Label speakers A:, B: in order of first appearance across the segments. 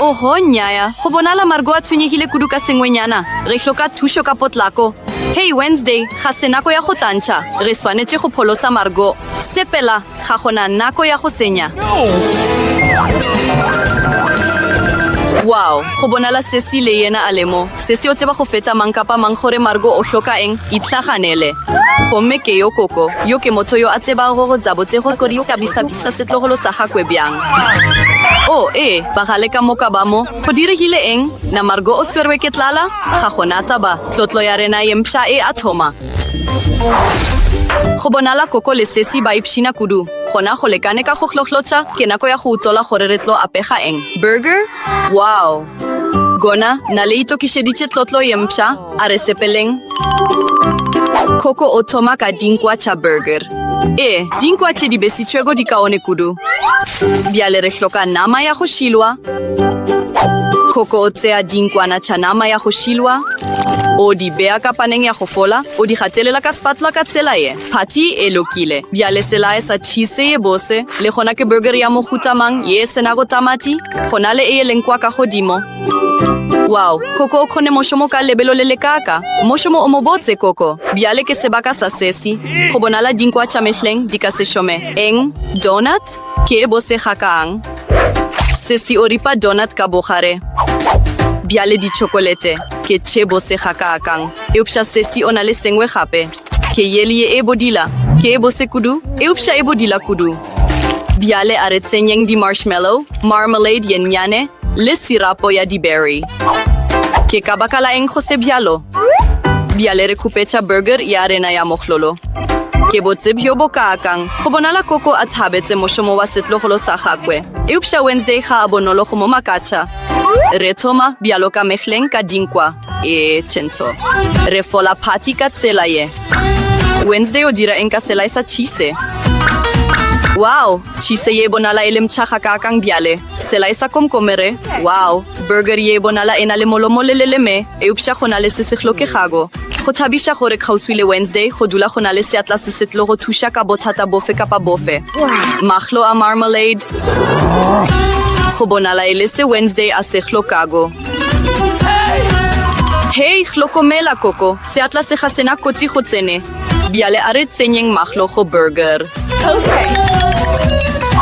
A: Oho, nnyaya. Go bonala Margo a tshwenyegile kudu ka sengwenyana. Re hloka thušo ka potlako. Hei, Wednesday, ga se nako ya go tantšha. Re swanetše go pholosa Margo. Sepela, ga go na nako ya go senya. Wow, go bonala Cecile le yena a le mo. Se se yo tseba go feta mang kapa mang gore Margo o hloka eng, itlhaganele. Gomme ke yo koko, yo ke motho yo a tsebago go gabotse go kodi ka bisa bisa setlogolo sa gakwe bjang. Oo, ee, bagale ka moka ba mo. Go diregile eng? Na Margo o swerwe ke tlala? Ga go na taba. Tlotlo ya rena ye mpsha e a thoma. Go bonala koko le sesi ba ipshina kudu. Gona go lekane ka go hlohlotsha, ke nako ya go utola gore re tlo apega eng. Burger? Wow! Gona na le itokišeditše tlotlo ye mpsha? A re sepeleng. Koko o thoma ka dinkwa tša burger. Ee, dinkwa tše di besitšwego di kaone kudu. Bjale re hloka nama ya go šilwa. Koko o tsea dinkwana tša nama ya go šilwa, o di bea ka paneng ya go fola, o di gatelela ka spatula ka tsela ye. Phatši e lokile. Bjale selae sa tšhise ye bose, le gona ke burgeri ya mohuta mang ye e se nago tamati? Go na le e e leng kwa ka godimo. Wow! Koko o kgone mošomo ka lebelo le lekaaka. Mošomo o mobotse, Koko. Bjale ke sebaka sa sesi. Go bonala dinkwa tša mehleng di ka se šome. Eng? Donut? Ke e bose gakaang? Sesi o ripa donut ka bogare. Bjale ditšhokolete. Ke tše bose gakaakang! Eupša sesi o na le sengwe gape. Ke yeli ye e bodila, ke e bose kudu, eupša e bodila kudu. Bjale a re tsenyeng di-marshmallow, marmalade ye nnyane, le sirapo ya di-berry. Ke ka baka la eng go se bjalo? Bjale re khupetša burger ya rena ya mohlolo. Ke botse bjo bokaakang! Go bonala Koko a thabetse mošomo wa setlogolo sa gakwe. Eupša Wednesday ga a bonolo go mo makatša. Re thoma, bjalo ka mehleng, ka dinkwa. e tšentsho re fola party ka tsela ye wednesday o dira eng ka sela e sa cheese wow cheese ye bonala e le mtšhaga ka kang bjale sela e sa komkomere wow burger ye bonala e na le molomo le leleme eupša go na le se se hlokegako go thabiša gore kgauswi le wednesday go dula go na le seatla se se tlo go thuša ka bothata bofe kapa bofe mahlo a marmalade go bonala e le se wednesday a se hlokago Hei, hlokomela, Koko, seatla se ga sena kotsi go tsene. Bjale a re tsenyeng mahlo go burger.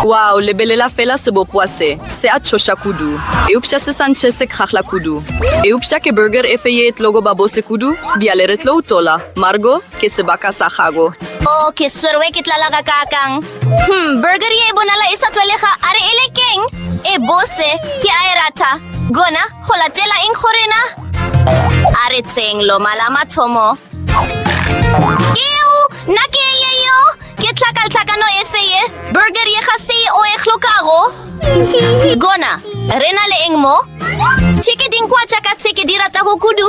A: Wow, lebelela fela sebopowa se, se a tšhoša kudu. Eupša se sa ntšhe se kgahla kudu. Eupša ke burger efe ye e tlogo ba bose kudu? Bjale re tlo utola. Margo, ke sebaka sa gago. Oh, ke swerwe
B: ke tlala gakaakang! Hmm, burger ye e bonala e sa tlwalega a re e le keng e bose ke a e rata gona go latela eng go rena a re tseng loma la mathomo eo nna ke eng ye yeo ke tlhakaltlhakano efe ye burger ye ga se o e hlokago gona re na le eng mo tšheke dinkwa tša ka tsheke di ratago kudu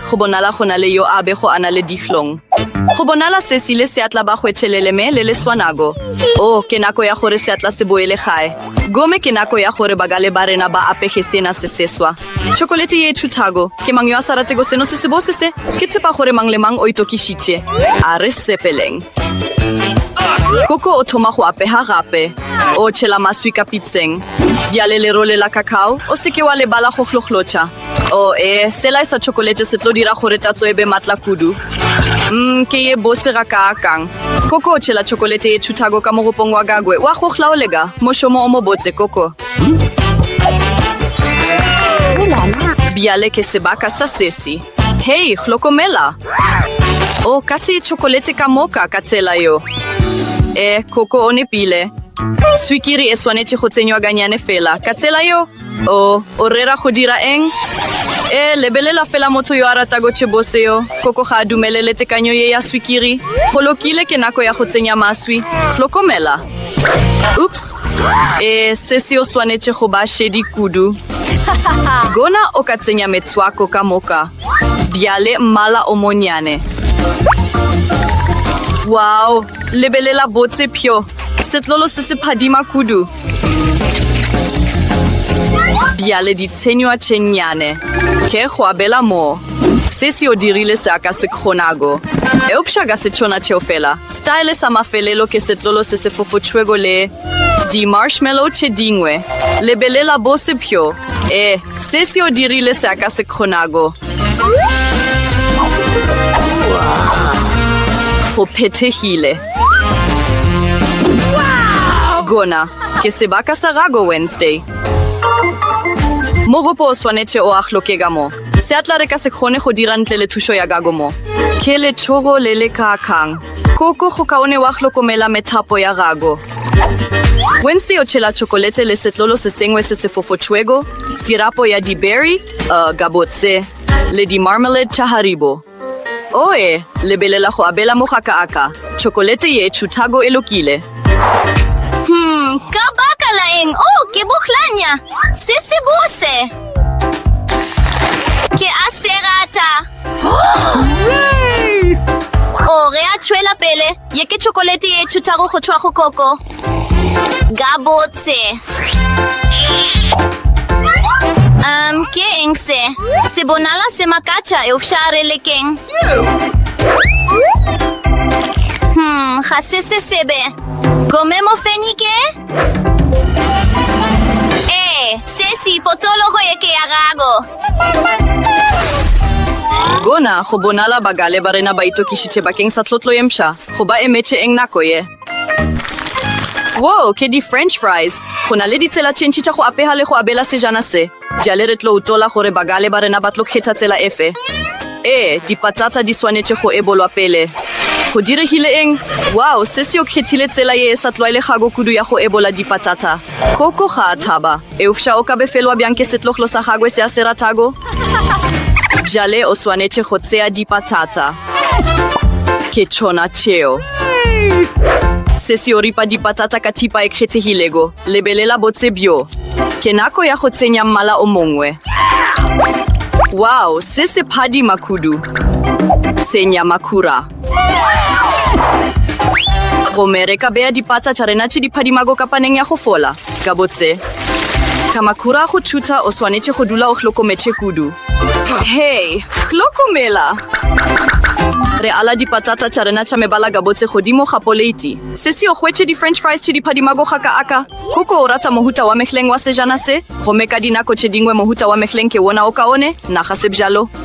A: Go bonala go na le yo a bego a na le dihlong. Go bonala se se ile seatla ba hwetšhelele me le le swanago. O, ke nako ya gore seatla se boele gae. Gome ke nako ya gore bagale ba rena ba apege sena se seswa. Tšhokolete ye e thuthago. Ke mang yo a sa ratego seno se sebose se? Ke tshepa gore mang le mang o itokišitše. A re sepeleng. Koko o thoma go apega gape. O tšhela maswi ka pitseng. Bjale lerole la cacao, o se ke wa lebala go hlohlocha. o oh, e eh, sela e sa chokolete se tlo dira gore tatso e be matla kudu mm, ke ye bose ga ka akang koko o tšhela chokolete e thuthago ka mogopong wa gagwe wa gogla o lega mošomo o mo botse koko bjale ke sebaka sa sesi hei hlokomela o oh, ka se chokolete ka moka ka tsela yo e eh, koko o nepile swikiri e swanetše go tsenywa ganyane fela ka tsela yo O, o rera go dira eng? E, lebelela fela motho yo a ratago tšhebose yo, koko ga a dumelele tekanyo ye ya swikiri. Go lokile, ke nako ya go tsenya maswi. Hlokomela. Oops. E, se se o swanetše go ba šedi kudu. Gona o ka tsenya metswako ka moka. Bjale mmala o monnyane. Wow! Lebelela botse, pjo! Setlolo se se phadima kudu. bjale ditshenywa tše nnyane ke go abela moo se se o dirile se a ka se kgonago eupša ka setšona tšeo fela style sa mafelelo ke setlolo se se fofotšwego le di-marshmallow tše dingwe lebelela bo sepjo e se se o dirile se a ka se kgonago go phethegile Gona ke sebaka sa gago Wednesday. Mogopo o swanetše o ahloke ka mo. Se a tla re ka se kgone go dira ntle le thušo ya gago mo. Ke lethogo le le kaakang. Koko go kaone wa hlokomela methapo ya gago. Wednesday o tšhela tšhokolete le setlolo se sengwe se se fofotšwego, sirapo ya di-berry, uh, gabotse, le di-marmalade tša Haribo. Oe, lebelela go abela mogaka aka tšhokolete ye tšhuthago e lokile. Hmm,
B: ka baka la eng o ke bohlanya se se bose? Ke a se rata. O re a tšwela pele. Ye ke chokolete ye tšhuthago go tšhwa go koko. Gabotse. Um, ke eng se? Se bonala se makatša eupša re lekeng. Hmm, ga se se sebe. Gome mofenyi ke? Ee, se se potologo ye ke ya gago.
A: Gona go bonala bagale ba rena ba itokišitše bakeng sa tlotlo ye mpsha. Go ba emetše eng nako ye? Woo, ke di-french fries. Go na le ditsela tše ntši tša go apega le go abela sejana se. Bjale re tlo utola gore bagale ba rena ba tlo kgetha tsela efe. Ee, dipatata di swanetše go ebolwa pele. Go diregile eng? Wao, Sesi o kgethile tsela ye e sa tlwaelegago kudu ya go ebola dipatata. Koko ga a thaba. Eupša o ka befelwa bjang ke setloglo sa gagwe se a se ratago? Bjale o swanetše go tsea dipatata. Ke tšona tšeo. Sesi o ripa dipatata ka thipa e kgethegilego. Lebelela botse bjo. Ke nako ya go tsenya mmala o mongwe. Wow, se se phadima kudu. Tsenya makhura. Gomme re ka beya dipatsa tša rena tše di phadimago kapaneng ya go fola. Gabotse. Kamakura go thutha o swanetše go dula o hlokometše kudu. Hei, hlokomela! Re ala dipatsatsa tša rena tša mebala gabotse godimo ga poleiti. Sesi o hwetše di-french fries tše di phadimago ga ka aka. Koko o rata mohuta wa mehleng wa sejana se, gomme ka dinako tše dingwe mohuta wa mehleng ke wona o kaone, naga se bjalo.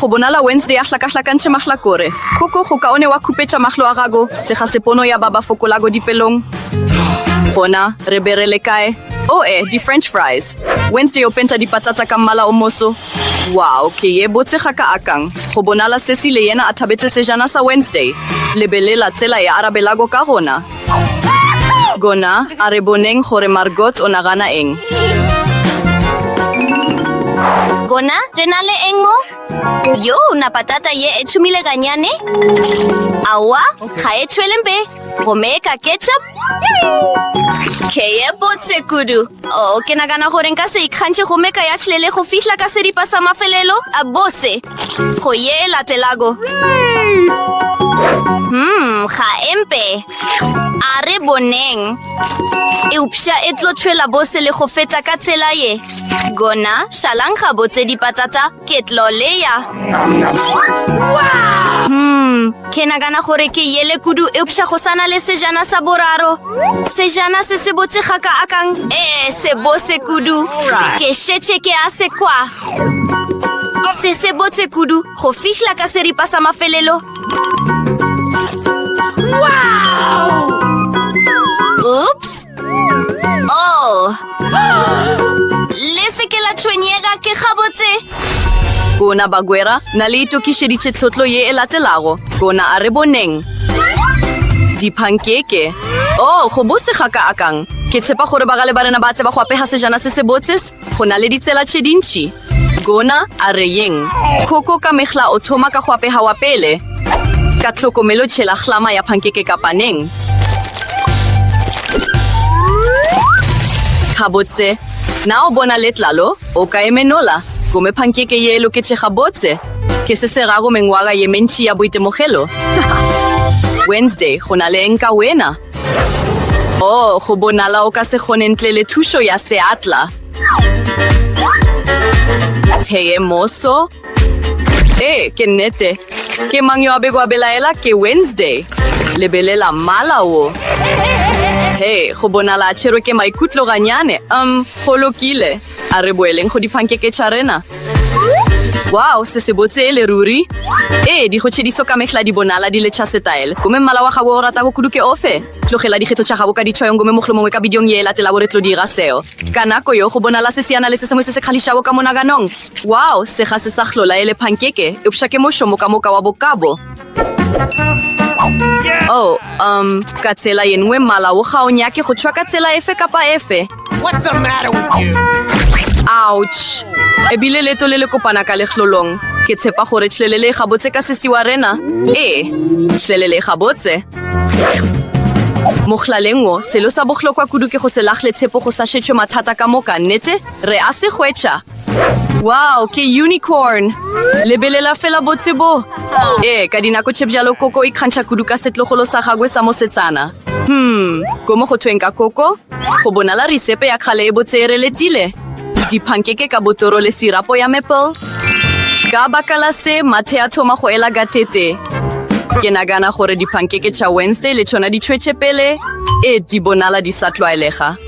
A: Go bonala Wednesday a hlakahlakantšhe mahlakore, khoko go kaone wa khupetša mahlo a gago, sega se pono ya ba ba fokolago dipelong. Gona, re be re le kae? Oh, eh, di-French fries. Wednesday o penta dipatata ka mmala o moso. Wow, ke ye botse ga ka akang. Go bonala Ceci le yena a thabetše sejana sa Wednesday. Lebelela tsela e a arabelago ka gona. Gona, a re boneng gore Margot o nagana eng.
B: Gona, re na le eng mo? Yo, na patata ye e tšhumile ganyane? Aowa, ga e tšhwele mpe. Gomme ka ketchup? Ke ye botse kudu. Oh, ke nagana gore nka se ikgantšhe gomme ka ya tšhlele go fihla ka seripa sa mafelelo a bose. Go ye e latelago. Hmm, ga empe. A re boneng. Eupša e tlo tšhwela bose le go feta ka tsela ye. Gona, šalang ga botse dipatata, ke tlo leya. Hmm, ke nagana gore ke yele kudu eupša go sana le sejana sa boraro. Sejana se se botse ga ka akang. Ee, se bose kudu. Ke šetše ke a se kwa. se se botse kudu go fihla ka seripa sa mafelelo wow! oops oh le se ke la tshwenyega ke gabotse kona
A: bagwera na le itokišeditše tlhotlo ye e latelago kona a re boneng diphankeke o oh, go bose ga ka akang ke tshepa gore bagale ba rena ba tseba go apega sejana se se botse Go na le ditsela tše dintši. Gona a re yeng? Koko ka mehla o thoma ka go apega wa pele. Ka tlhokomelo tšhela hlama ya pankeke ka paneng. Gabotse, na o bona letlalo? O ka emenola. Gome pankeke ye e loketše gabotse. Ke se se rago mengwaga ye mentši ya boitemogelo. Wednesday, go na le eng ka wena? Oh, go bonala o ka se kgone ntle le thušo ya seatla. Theye moso. Ee, ke nnete. Ke mang yo a bego a belaela ke Wednesday? Lebelela mmala wo. He, go bonala a tšherwe ke maikutlo ganyane. Um, go lokile. A re boeleng go diphankeke tša rena. Wow, se sebotse ele ruri! Ee, dikgotšediso ka mehla di bonala di le tša setaele. Gomme mmala wa gago o o ratago kudu ke ofe? Tlogela dikgetho tša gago ka ditšhwayong gomme mohlomongwe ka bidiong ye e latelago re tlo dira seo. Ka nako yo, go bonala seseana le se sengwe se se kgahlišago ka monaganong. Wow, se ga se sa hlola ele phankeke, eupša ke mošo moka-moka wa bokabo! Oh, um, ka tsela ye nngwe mala o ga o nyake go tšhwa ka tsela efe kapa efe. What's the matter
C: with you? Ouch.
A: Ebile leto le le kopana ka lehlolong. Ke tshepa gore tšhlelele ga botse ka sesi wa rena. Ee, tšhlelele ga botse. Mohllaleng wo, selo sa bohlokwa kudu ke go se lagle tshepo go sa šetšwe mathata ka moka, nnete? Re a se hwetša. Wow, ke unicorn! Lebelela fela botse bo! Ee, ka dinako tše bjalo koko e kgantšha kudu ka setlogolo sa gagwe sa mosetsana. Hmm, ko mo go thweng ka koko? Go bonala risepe ya kgale e botse e reletile. Diphankeke ka botoro le sirapo ya maple. Ka baka la se, mathe a thoma go ela gatete. Ke nagana gore diphankeke tša Wednesday le tšona di tšhwetše pele. E, di bonala di sa tlwaelega.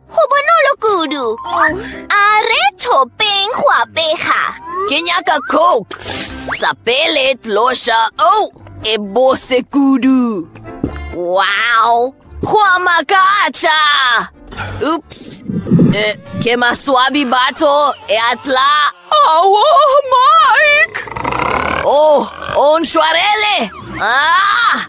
B: Go bonolo kudu. A re thopeng go apega. Ke nyaka
D: coke. Sa pele tlosha. Oh, e bose kudu. Wow, go a makatša. Oops. E, ke maswabi batho e atla. Awo,
A: Mike! Oh,
D: o ntshwarele. Ah!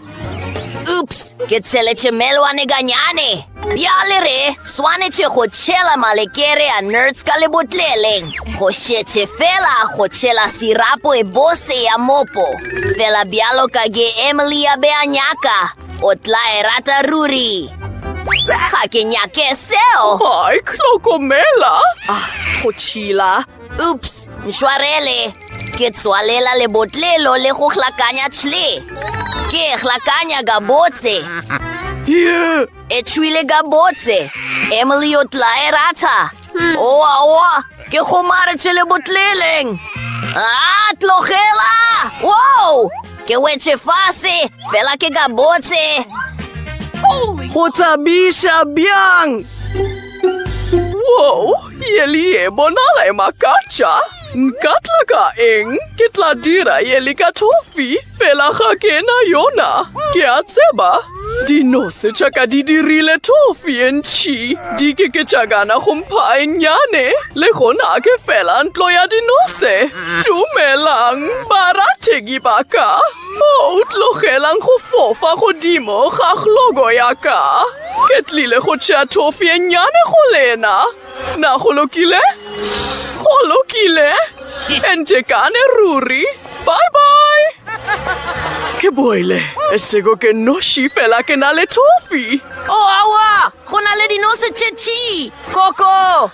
D: Oops, ke tsheletše melwane ganyane. Bjale re swanetše go tšhela malekere a nerds ka lebotleleng. Go šetše fela go tšhela sirapo e bose ya mopo. Fela bjalo ka ge Emily a be a nyaka, o tla e rata ruri. Ga ke nyake seo. Ai,
A: hlokomela. Ah, go tšhila. Oops,
D: nšwarele. Ke tswalela lebotlelo le go hlakanya tšhle. Ke e hlakanya gabotse. Yeah. E tšhwile gabotse. Emily o tla e rata. Hmm. Oa, oa, ke gomaretše lebotleleng. Ah, tlogela! Wow! Ke wetše fase, fela ke gabotse.
A: Go thabiša bjang! Woo, ye le ye bonala e makatša. Nka tla ka eng? Ke tla dira ye le ka tofi, fela ga ke na yona. Ke a tseba, dinose tša ka di dirile tofi e ntšhi. Di ke ke tša gana go mpha e nnyane, le gona ke fela ntlo ya dinose. Dumelang, barategi ba ka. Mo o tlogelang go fofa godimo ga glogo ya ka, ke tlile go tšea thofi e nnyane go lena. Na go lokile? Go lokile. E ntekane ruri. Bye-bye. Ke boile, e sego ke noši fela ke na le thofi. O awa!
D: Go na le dinose tše tšii! Koko!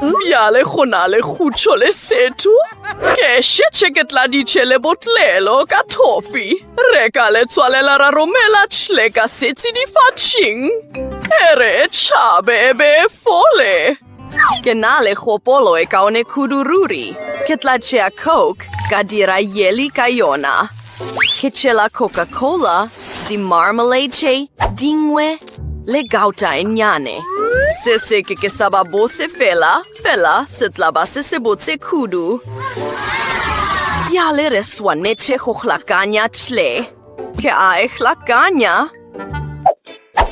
A: Bjale go na le khutšo le setho. Ke šetše ke tladitše le botlelo ka thofi. Re ka le tswalela ra romela tšhle ka setsi difatšing. E re e tšhabe e be e fole. Ke na le kgopolo e kaone kudu ruri. Ke tla tšea Coke ka dira yeli ka yona. Ke tšela Coca-Cola, di-marmalade tše dingwe. Le gauta e nnyane. Se se ke ke sa ba bose fela, fela se tla ba se se botse kudu. Bjale re swanetše go hlakanya tšhle. Ke a e hlakanya.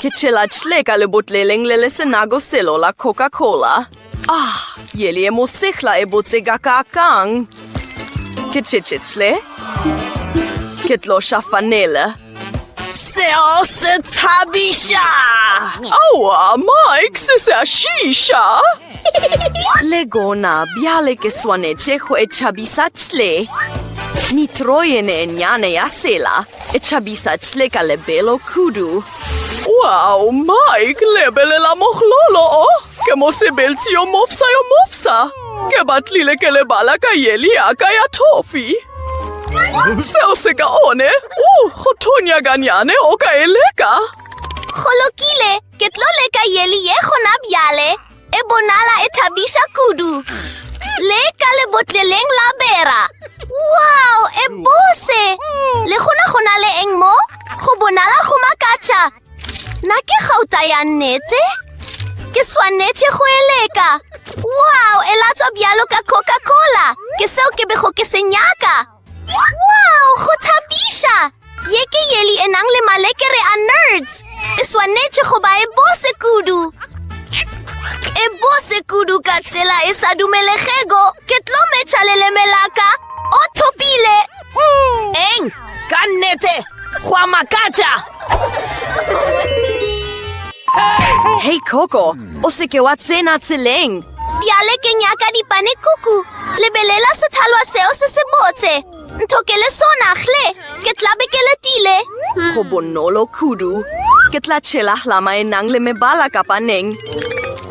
A: Ke tšhela tšhle ka lebotleleng le le senago selo la Coca-Cola. Ah, ye le ye mosehla e botse ka ka kang. Ke tšetšetle. Ke tlo shafanela. Seo
D: se thabiša! Aowa,
A: Mike, se se a šiša! Le gona, bjale ke swanetše go e tšhabisa tle. Nitroyene e nyane ya sela e tšhabisa tle ka lebelo kudu. Wow, Mike, lebelela mohlolo o! Oh. Ke mosebeltsi yo mofsa yo mofsa. Ke batlile ke lebala ka yeli ya ka ya thofi. Seo se ka one. Uh, go thonya ganyane o ka e leka. Go
B: lokile, ke tlo leka yeli ye gona bjale. E bonala e thabiša kudu. Le ka lebotleleng la bera. Wow, e bose! Le gona go na le eng mo? Go bonala go makatša. Na ke gauta ya nnete? Ke swanetše go eleka. Wow, e latswa bjalo ka Coca-Cola. Ke seo ke bego ke se nyaka. Wow, go thabiša! Ye ke yeli e nang le malekere a nerds. E swanetše go ba e bose kudu. E bose kudu ka tsela e sa dumelegego. Ke tlo metšha leleme la ka. O thopile! Eng?
D: Ka nnete, go a makatša!
A: Hei Coco, o seke wa tsena tseleng. Bjale ke
B: nyaka dipane kuku. Lebelela sethalwa seo se se botse. Ntho ke le sona, hle, ke tla be ke letile. Go bonolo
A: kudu. Ke tla tšhela hlama e nang le mebala ka paneng.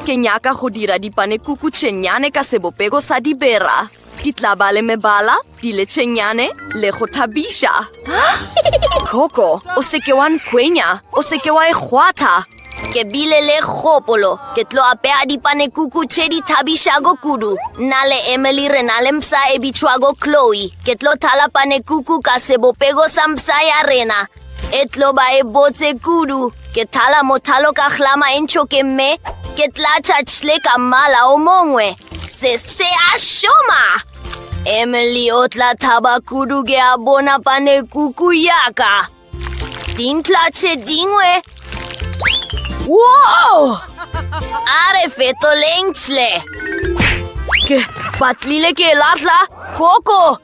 A: Ke nyaka go dira dipane kuku tšenyane ka sebopego sa dibera. Di tla ba le mebala, diletšenyane le go thabiša. Koko, o seke wa nkwenya, o seke wa e kgwatha. Ke bile
D: le kgopolo, ke tlo apeya dipanekuku tše di thabišago kudu. Nna le Emily re na le mpsa e bitšwago Chloe. Ke tlo thala panekuku ka sebopego sa mpsa ya rena. E tlo ba e botse kudu. Ke thala mothalo ka hlama e ntšhoke mme ke tlatša tšhle ka mmala o mongwe. Se se a šoma! Emily o tla thaba kudu ke a bona pane kuku yaka. Dintla tše dingwe. Wow! A re fetoleng tšhle. Ke batlile ke lahla koko.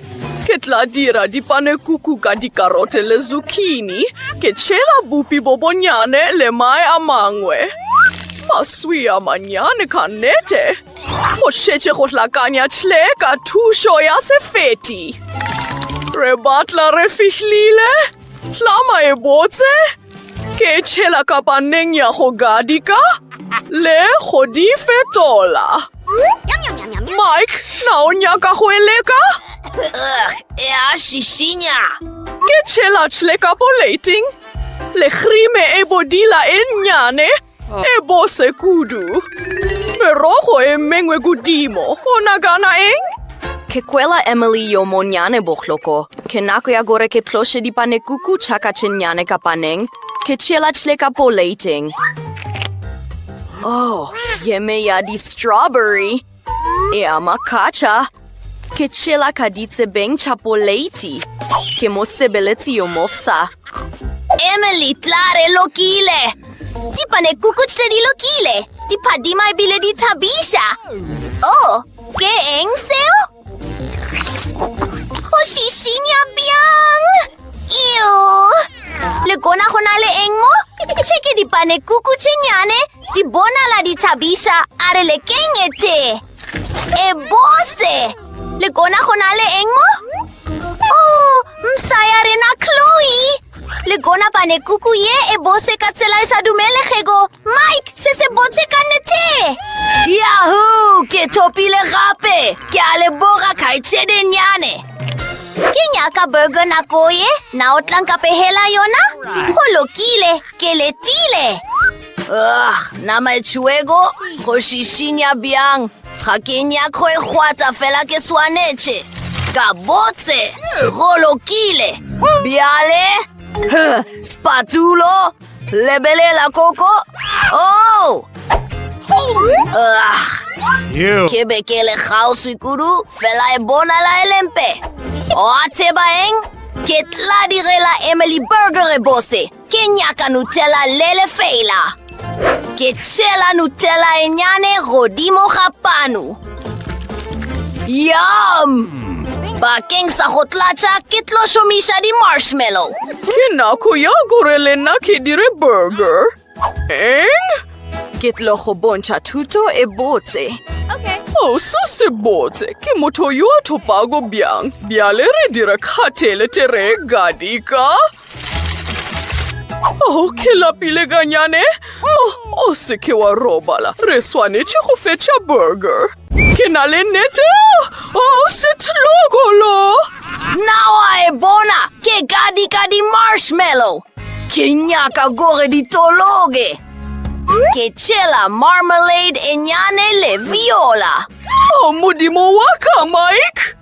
A: Ke tla dira dipanekuku ka dikarote le zucchini. Ke tšhela bupi bo bonyane le mae a mangwe. Maswi a manyane ka nete. Go šetše go hlakanya tle ka thušo ya sefeti. Re batla re fihlile. Hlama e botse. Ke tšhela kapaneng ya go gadika le go di fetola. Mike, na o nyaka go e leka?
D: Ya šišinya. Ke
A: tšhela tšhle ka poleiting le khrime e bodila e nnyane. E bose kudu. Merogo e mengwe godimo. O nagana eng? Ke kwela Emily yo monnyane bohloko. Ke nako ya gore ke tloše dipanekuku tša ka tše nnyane ka paneng. Ke tšeela tšle ka poleiteng. Oh, yeme ya di-strawberry! Ea makatša, ke tšhela ka ditsebeng tša poleiti. Ke mosebeletsi yo mofsa. Emily,
D: tla re lokile!
B: Dipanekukutšle di lokile, di phadima ebile di thabiša. Oh, ke eng seo? Go šišinya bjang? Eo! Le kona go na le eng mo? Tšhe ke dipanekuku tše nyane Di bonala di thabiša a re lekeng e tee. E bose! Le kona go na le eng mo? O, oh, msa ya rena Chloe! Le kona bane kuku ye e bose ka tsela e sa dumelegego. Mike, se se botse ka nete! Yahoo!
D: Ke thopile gape! Ke a le boga kgaitšedenyane!
B: Ke nyaka burger nako ye, na o tlanka pehela yona? Go lokile, ke letile! Ugh,
D: nama e tšhiwego go šišinya bjang ga ke nyakgo e kgwata fela ke swanetše ka botse go lokile bjale spatulo lebelela koko oh!
C: ke be ke le
D: kgauswi kudu fela e bonala e lempe oa tseba eng ke tla direla emily burger e bose Ke nyaka Nutella le lefeela. Ke tšhela Nutella e nyane godimo ga panu. Yum! Bakeng sa go tlatša ke tlo šomiša di-marshmallow. Ke nako
A: ya gore le nna ke dire burger. Eng? Ke tlo go bontšha thuto e botse. Okay. Oh, so se botse. Ke motho yo a thopago bjang. Bjale re dira kgatele tere gadika. Oh, ke lapile kanyane. Oh, o se ke wa robala. Re swanetše go fetša burger. Ke na le nete. Oh, setlogolo. Na
D: wa e bona? Ke ka di ka di marshmallow. Ke nyaka gore di tologe. Ke tšela marmalade e nyane le viola. Oh, modimo
A: wa ka, Mike.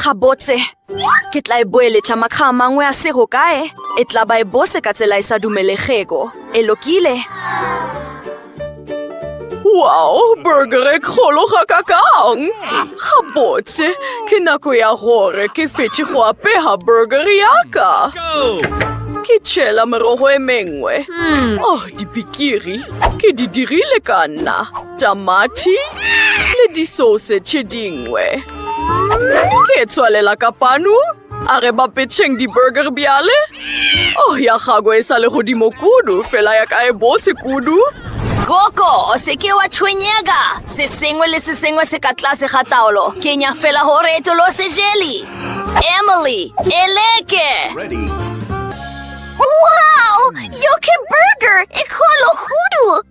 A: Gabotse, ke tla e boeletša makga a mangwe a sego kae, e tla ba e bose ka tsela e sa dumelegego. E lokile? Wow, burger e kgolo ga ka kang! Gabotse, ke nako ya gore ke fetše go apega burger ya ka. Ke tšhela merogo e mengwe. Oh, dipikiri, ke di dirile ka nna. tamati le disose tše dingwe. Ke tswalela ka panu, a re ba petšheng di-burger bjale. Oh, ya gago e sa le godimo kudu, fela ya ka e bose kudu. Koko,
D: o se ke wa tshwenyega. Se sengwe le se sengwe se ka tlase ga taolo. Ke nya fela gore e tolo se jeli. Emily, e leke!
B: Wow! Yoke burger e kgolo kudu!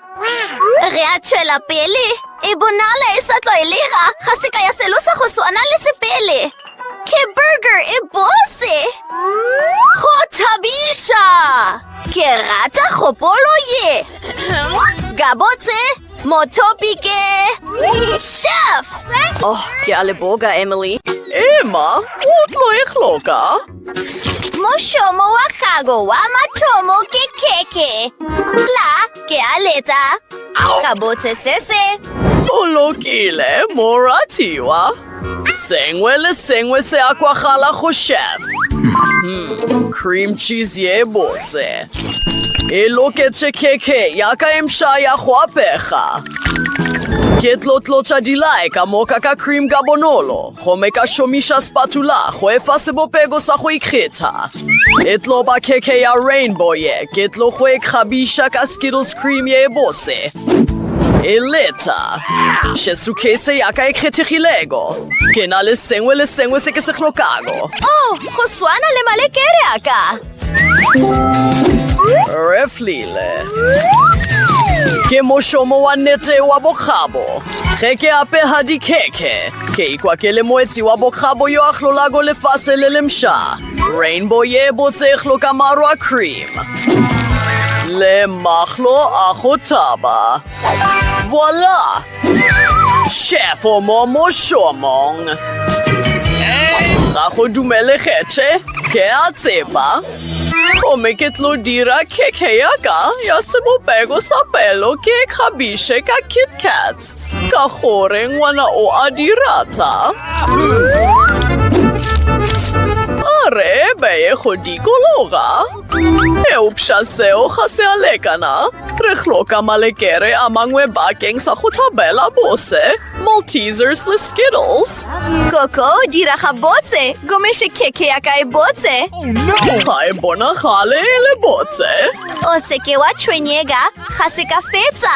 B: Re a tšwela pele. E bonala e sa tlwaelega. Ga se ka ya selo sa go swana le sepele. Ke burger e bose. Go thabiša. Ke rata kgopolo ye. Gabotse, mothopi ke... Chef! Oh,
A: ke a leboga, Emily. Emma, o tlo e hloka.
B: Mošomo wa gago wa mathomo ke khekhe. Tla ke a letsa. Ka botse se se. O
A: lokile, moratiwa. Sengwe le sengwe se a kwagala go chef. Hmm, cream cheese ye bose. E loketše khekhe ya ka e mpša ya go apega. Ke tlotlotša dilae ka moka ka cream ka bonolo. Gomme ka šomiša spatula go efa sebopego sa go ikgetha. E tlo ba khekhe ya rainbow ye, ke tlo go e kgabiša ka Skittles cream ye e bose. E leta. Še sukhese ya ka e kgethegilego. Ke na le sengwe le sengwe se ke se hlokago. Oh, go
B: swana le malekere a ka.
A: Re flile. Ke mošomo wa nete wa bokgabo. Ge ke apega dikhekhe, ke ikwa ke le moetsi wa bokgabo yo a hlolago lefase le lemša. Rainbow ye botse e hloka maro a cream le mahlo a go thaba. Voila! Chef o mo mošomong. Ga go dumele kgetšhe, ke a tseba. Gomme ke tlo dira khekhe ya ka ya sebopego sa pelo ke e kgabiše ka KitKats ka gore ngwana o a di rata. A re beye go dikologa. Eupša seo ga se a lekana. Re hloka malekere a mangwe bakeng sa go tlabela bose, Maltesers le Skittles. Koko,
B: dira ga botse, gomeše khekhe ya ka e botse. Ga e
A: bonagale e le botse. O seke
B: wa tshwenyega, ga se ka fetsa.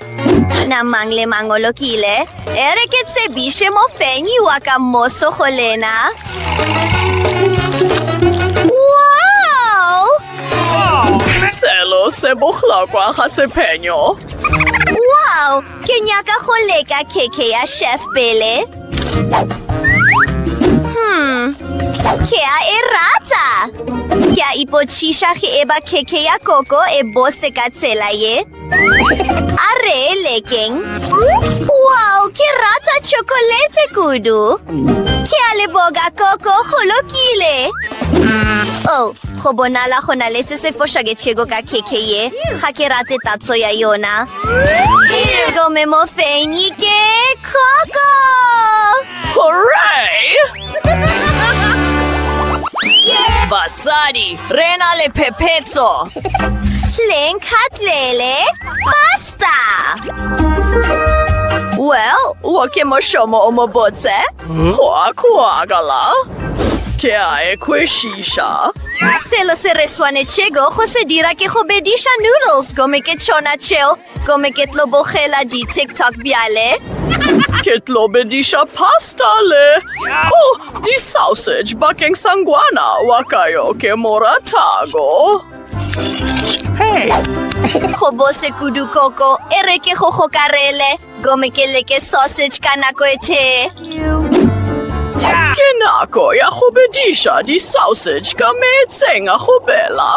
B: Kana mang le mang o lokile? E re ke tsebiše mofenyi wa ka moso go lena. Wow!
A: Selo se bohlokwa ga sephenyo. Wow!
B: Ke nyaka go leka keke ya chef pele. Hmm, ke a e rata. Ke a ipotšiša ge e ba keke ya koko e bose ka tsela ye. A re lekeng. Wow, ke rata chocolate kudu. Ke a leboga koko go lokile. Oh, go bonala go na le se se fošaketšego ka keke ye. Ga ke rate tatso ya yona. Gome mofenyi ke koko.
A: Hooray!
D: Basadi, re na le phephetso!
B: Leng khatlele, basta!
A: Well, wo ke mošomo o mo botse. Kwa kwagala. Ke a e kwešiša. Selo se
B: re swanetšego go se dira ke go bediša noodles gomme ke tšona tšeo Gomme ke tlo bogela di-tiktok bjale. Ke tlo
A: bediša pasta le o oh, di-sausage bakeng sa ngwana wa ka yo ke mo ratago. Hey!
B: go bose kudu koko e re ke go gokarele gomme ke leke sausage ka nako e tee
A: Ke nako ya go bediša di-sausage ka meetseng a go bela.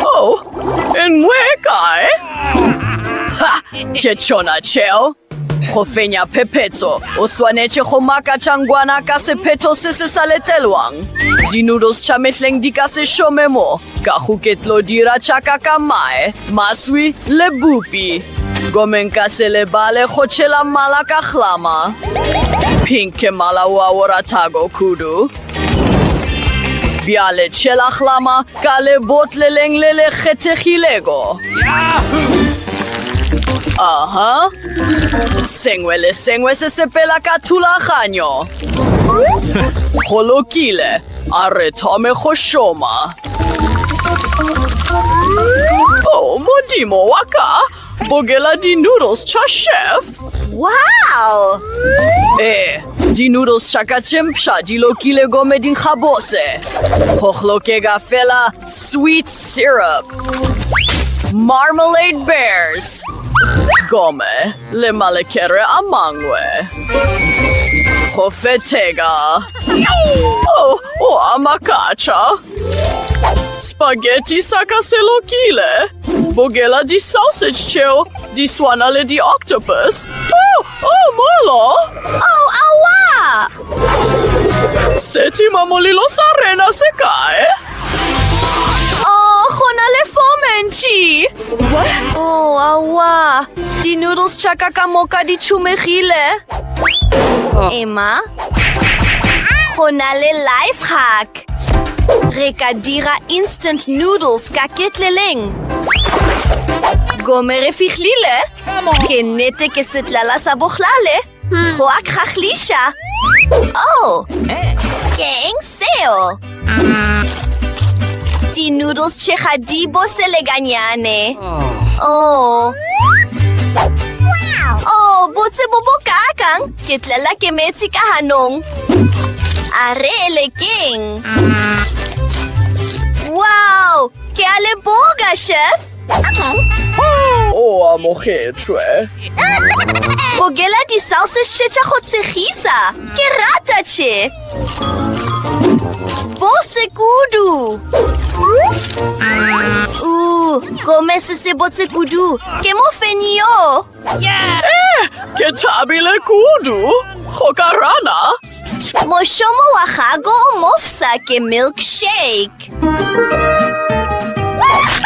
A: Oh, e nngwe e kae? Ha, ke tšona tšeo. Go fenya phephetso, o swanetše go makatša ngwana ka sephetho se se sa letelwang. Di-noodles tša mehleng di ka se šome mo. Ka go ke tlo dira tša ka ka mae, maswi le bupi. Gomme nka se lebale go tšhela mala ka hlama. Pink ke mala wo a o ratago kudu. Bjale tšhela hlama ka lebotleleng le le kgethegilego. Aha. Sengwe le sengwe se sepela ka thulaganyo. Go lokile. A re thome go šoma. Oh, modimo wa ka! Bogela di-noodles tša chef! Wow!
B: Eh,
A: di-noodles tša ka tše mpsha di lokile gomme di nkga bose. Go hlokega fela sweet syrup. Marmalade Bears! Gomme Le malekere a mangwe. Go fetheka. Oh, o a makatša. Spaghetti sa ka se lokile. Bogela di-sausage tšeo di swana le di-octopus. Oh, oh, molo! Oh, aowa!
B: Setima
A: molilo sa rena se kae?
B: Oh, go na le fomentši. Oh, awa. Di-noodles tša ka ka moka di tšhumegile. Emma, go na le life hack. Re ka dira instant noodles ka ketleleng. Gome re fihlile. Ke nnete ke setlala sa bohlale. Go a kgahliša! Oh! Ke eng seo? Di-noodles tše ga di bose le ganyane. Oh! Oh, botse bo bo kakang! Ke tlela ke metsi ka ganong. A re le keng? Wow! Ke a leboga, chef! o
A: amogetšwe
B: bogela di-salsa šetša go tshegisa ke rata tše bo sekudu u gomese se botse kudu ke mofenyi yo
A: Ke thabile kudu go ka rana. Mošomo
B: wa gago o mofsa ke milkshake.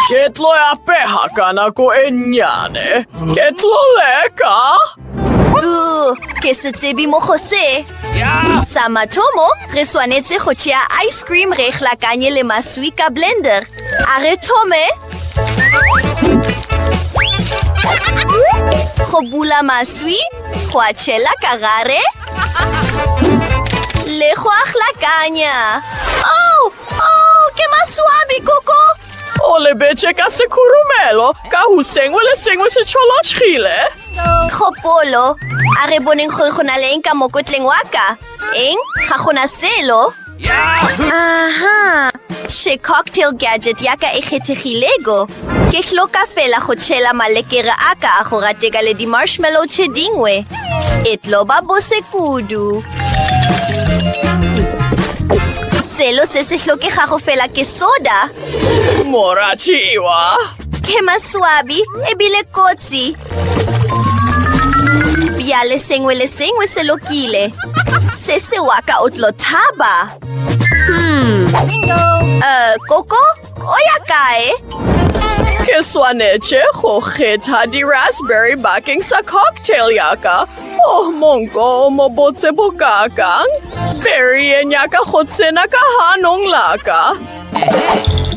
A: Ke tlo ya pega ka nako e nnyane. Ke tlo leka. Uh,
B: ke se tsebe mo go se. Sa mathomo, re swanetse go tšea ice cream re e hlakanye le maswi ka blender. A re thome go bula maswi go a tšhela ka gare le go a hlakanya oh, oh, ke maswabi koko o lebetše
A: ka sekhurumelo ka go sengwe le sengwe se tšholotšhile kgopolo
B: a re boneng gore go na le eng ka mokotleng wa ka eng ga gona selo Aha! She cocktail gadget ya ka e kgethegilego. Ke hloka fela go tšhela malekere a ka a go rateka le di-marshmallow tše dingwe. E tlo ba bose kudu. Selo se se hlokegago fela ke soda. Morachiwa!
A: Ke maswabi
B: ebile kotsi. Bjale sengwe le sengwe se lokile. Se se wa ka o tlo thaba. Hmm. Uh, koko, o ya kae? Ke
A: swanetše go kgetha di-raspberry bakeng sa cocktail ya ka. Oh, monko o mo botse bokakang. Berry e nyaka go tsena ka hanong la ka.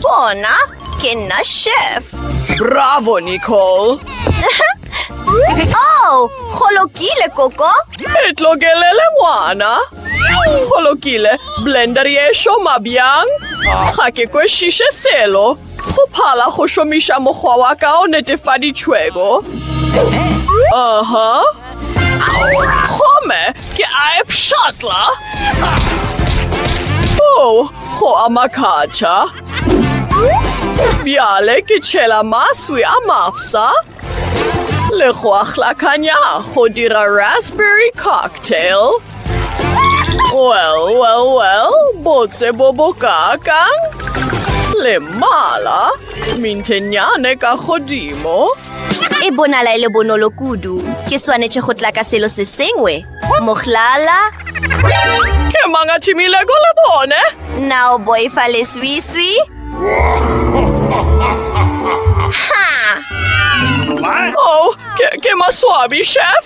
B: Bona, ke nna chef. Bravo,
A: Nicole!
B: oh, go lokile, Koko. E tlokelele
A: ngwana. Go lokile, blender ye šoma bjang? Ga ke kwešiše selo. Go phala go šomiša mokgwa wa ka o netefaditšhwego. Aha. Uh -huh. Gomme ke a e pšhatla. Oh, go a makatša. Bjale ke tšhela maswi a mafsa le go a hlakanya go dira raspberry cocktail. Well, well, well, botse bo bo kakang le mala mintenyane ka godimo. E
B: bonala e le bonolo kudu. Ke swanetše go tla ka selo se sengwe. Mohlala.
A: Ke mang a thimilego le bone? Na o boifa
B: leswiswi? Ha!
A: Oh, ke, ke maswabi, chef.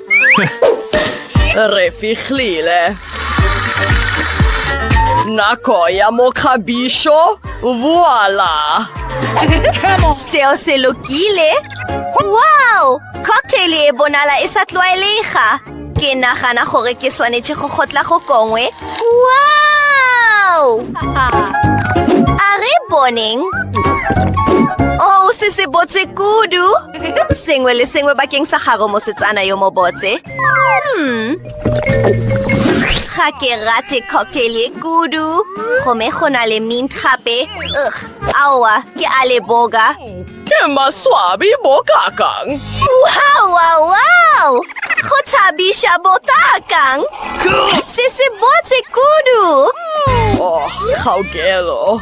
A: Re fihlile. Nako ya mokgabišo voila.
B: Seo se lokile. Wow! Cocktail e bonala e sa tlwaelega. Ke nagana gore ke swanetše go kgotla go kongwe. Wow! A re boneng. Oh, se se botse kudu. Sengwe le sengwe bakeng sa gago mosetsana yo mobotse. Hmm. Ga ke rate cocktail e kudu. Gome go na le mint gape. Ugh, aowa, ke a le boga. Ke
A: maswabi bokakang. Wow, wow,
B: wow! Go thabisha bokakang. Se se botse kudu. Oh,
A: kgaokelo.